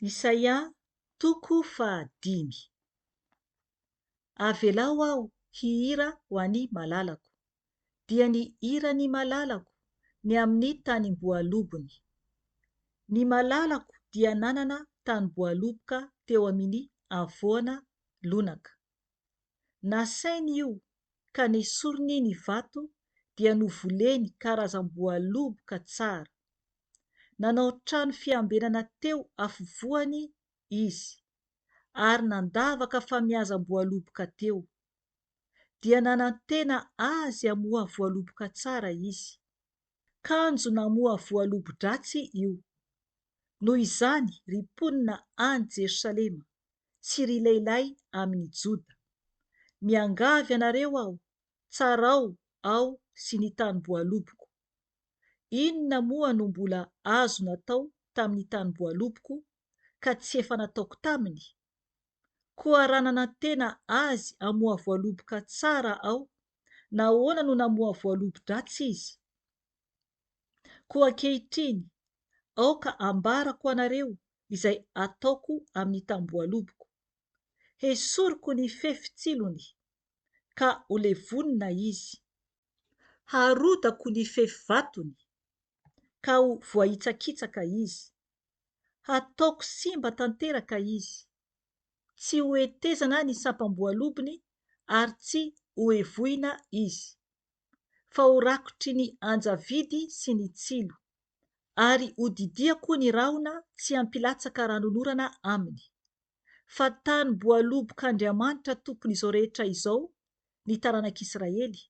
Isaia toko fahadimy. Avelao aho hihira ho an'i malalako. Dia ny hiran'i malalako ny amin'ny tanimboalobony. Ny malalako dia nanana tanimboaloboka teo amin'i Avoana lonaka. Nasainy io ka nesoriny ny vato dia novoleny karazam-boaloboka tsara. Nanao trano fiambenana teo afovoany izy. ary nandavaka famiazam-boaloboka teo. Dia nanantena azy hamoha voaloboka tsara izy. Kanjo namoha voalobo-dratsy io. Noho izany, ry mponina any Jerosalema sy ry lehilahy amin'ny Joda, miangavy anareo aho, tsarao aho sy ny tanim-boaloboko. Inona moa no mbola azo natao tamin'ny tanim-boaloboko ka tsy efa nataoko taminy? Koa raha nanantena azy hamoha voaloboka tsara aho, nahoana no namoha voalobo-dratsy izy? Koa ankehitriny, aoka hambarako anareo izay ataoko amin'ny tambohaloboko. Hesoriko ny fefitsilony, ka ho levonina izy. Harodako ny fefivatony, ka ho voahitsakitsaka izy. Hataoko simba tanteraka izy. Tsy hohetezana ny sampam-boalobony ary tsy hohevoina izy. Fa horakotry ny anjavidy sy ny tsilo, ary hodidiako ny rahona tsy hampilatsaka ranonorana aminy. Fa tanim-boalobok'Andriamanitra Tompon'izao rehetra izao ny taranak'Israely.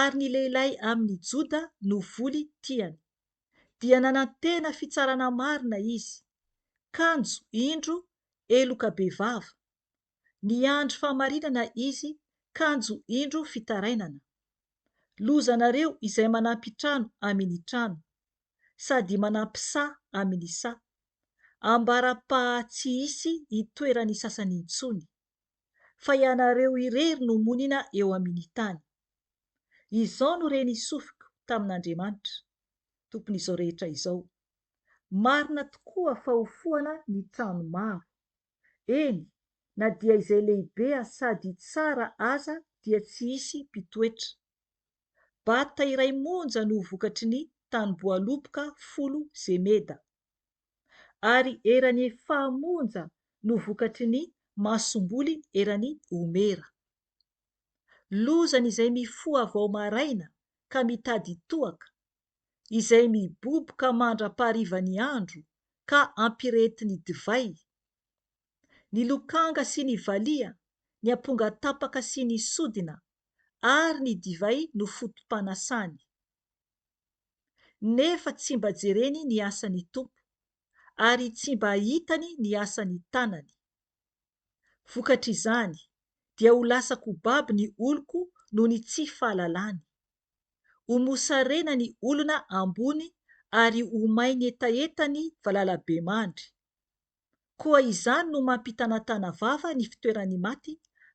ary ny lehilahy amin' i Joda no voly tiany. Dia nanantena fitsarana marina izy, kanjo indro heloka bevava, niandry fahamarinana izy, kanjo indro fitarainana. Lozanareo izay manampy trano amin' ny trano, sady manampy saha amin' ny saha, ambara-paha tsy hisy hitoeran' ny sasany intsony. fa ianareo irery no monina eo amin' ny tany. Izao no re nisofiko tamin' Andriamanitra, Tompon' izao rehetra izao, Marina tokoa fa hofohana ny trano maro, eny, na dia izay lehibe sady tsara aza dia tsy hisy mpitoetra. Bata iray monja no vokatry ny tanim-boaloboka folo zemeda. ary eran'ny fahamonja no vokatry ny masomboly eran'ny omera. Lozan'izay mifoha vao maraina ka mitady toaka, izay miboboka mandra-paharivan'ny andro ka ampirehetin'ny divay, ny lokanga sy ny valiha, ny amponga tapaka sy ny sodina, ary ny divay no foto-panasany. nefa tsy mba jereny ny asan'ny Tompo, ary tsy mba hitany ny asan'ny tanany. Vokatr'izany, dia ho lasa kobabo ny oloko noho ny tsy fahalalany. Ho mosarena ny olona ambony ary ho mainy hetaheta ny valalabemandry. Koa izany no mampitanatana vava ny fitoeran'ny maty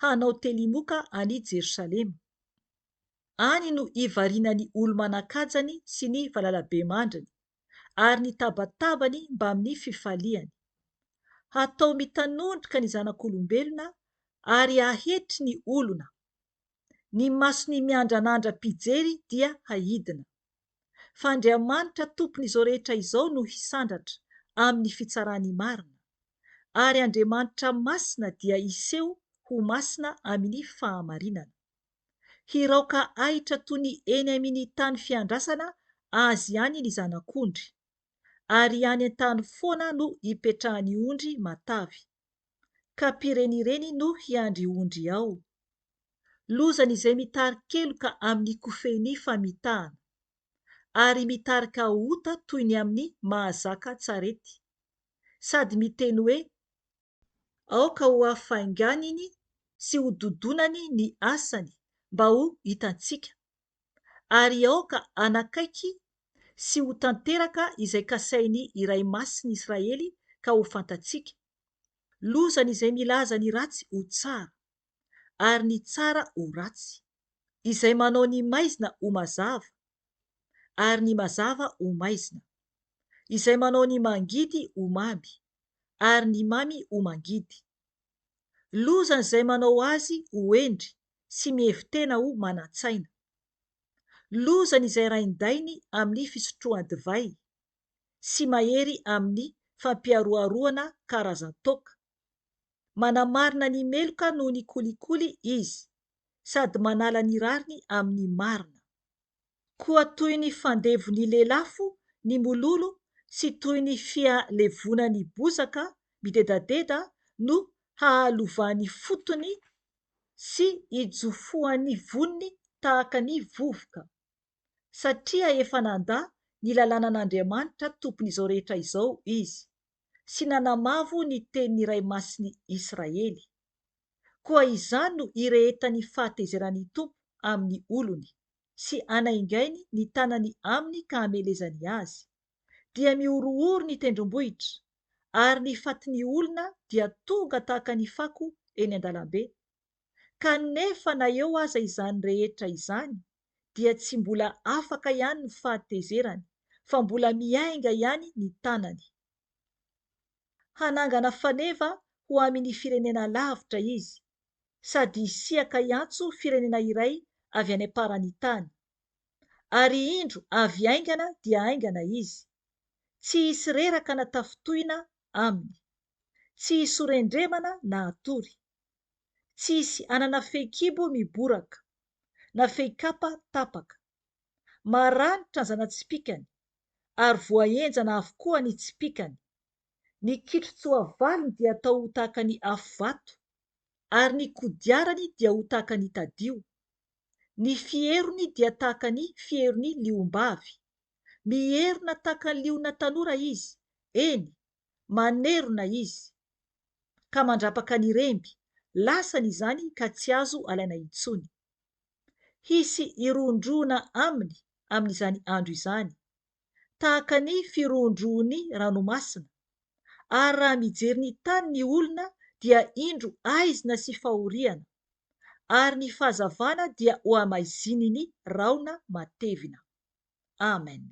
hanao telimoka an'i Jerosalema. Any no hivarinany olo-manan-kajany sy ny valalabemandriny, ary ny tabatabany mbamin'ny fifaliany. Hatao mitanondrika ny zanak'olombelona ary hahetry ny olona. Ny mason'ny miandranandra mpijery dia haidina. Fa Andriamanitra Tompon'izao rehetra izao no hisandratra amin'ny fitsarany marina. Ary Andriamanitra masina dia hiseho ho masina amin'ny fahamarinana. Hiraoka ahitra toy ny eny amini tany fiandrasana azy any ny zanak'ondry, ary any an-tany foana no ipetrahan'ny ondry matavy, ka mpirenireny no hiandry ondry ao. Lozan' izay mitari-keloka amin'ny kofehin'ny famitahana, ary mitarika ota toy ny amin'ny mahazaka an-tsarety, sady miteny hoe, Aoka hohafainganiny sy hododonany ny asany mba ho hitantsika, ary aoka hanakaiky sy ho tanteraka izay kasain'ny Iray Masin'i Israely ka ho fantatsika, lozany izay milaza ny ratsy ho tsara, ary ny tsara ho ratsy, izay manao ny maizina ho mazava, ary ny mazava ho maizina, izay manao ny mangidy ho mamy, ary ny mamy ho mangidy. Lozan' izay manao azy ho hendry sy mihevi-tena ho manan-tsaina. Lozan' izay rain-dainy amin' ny fisotroan-divay, sy mahery amin' ny fampiharoharoana karazan-toaka. Manamarina ny meloka noho ny kolikoly izy, sady manala ny rariny amin' ny marina. Koa toy ny fandevon'ny lelafo ny mololo sy toy ny fialevonan'ny bozaka midedadeda no hahalovan'ny fotony sy hijofoan'ny voniny tahaka ny vovoka. Satria efa nandà ny lalànan'Andriamanitra Tompon'izao rehetra izao izy, sy nanamavo ny tenin'ny Iray Masin'i Israely. Koa izany no irehetan'ny fahatezeran'ny Tompo amin'ny olony, sy hanaingainy ny tanany aminy ka hamelezany azy. Dia mihorohoro ny tendrombohitra, ary ny fatin'ny olona dia tonga tahaka ny fako eny an-dalambe. Kanefa na eo aza izany rehetra izany, dia tsy mbola afaka ihany ny fahatezerany, fa mbola miainga ihany ny tanany. hanangana faneva ho amini firenena lavitra izy sady hisiaka hiantso firenena iray avy any amparani tany. Ary indro avy haingana dia haingana izy. Tsy hisy reraka na tafintohina aminy. Tsy hisy ho rendremana na hatory. Tsy hisy hanana fehikibo miboraka, na fehikapa tapaka. Maranitra ny zana-tsipìkany, ary voahenjana avokoa ny tsipìkany. Ny kitron-tsoavaliny dia atao ho tahaka ny afo vato, ary ny kodiarany dia ho tahaka ny tadio. Ny fierony dia tahaka ny fieron'ny liombavy. Mierona tahaka ny liona tanora izy, eny, manerona izy, ka mandrapaka ny remby, lasany izany ka tsy azo alaina intsony. Hisy hirohondrohona aminy amin'izany andro izany, tahaka ny firohondrohon'ny ranomasina, ary raha mijery ny tany ny olona dia indro aizina sy fahoriana, ary ny fahazavana dia hohamaizininy rahona matevina. Amena.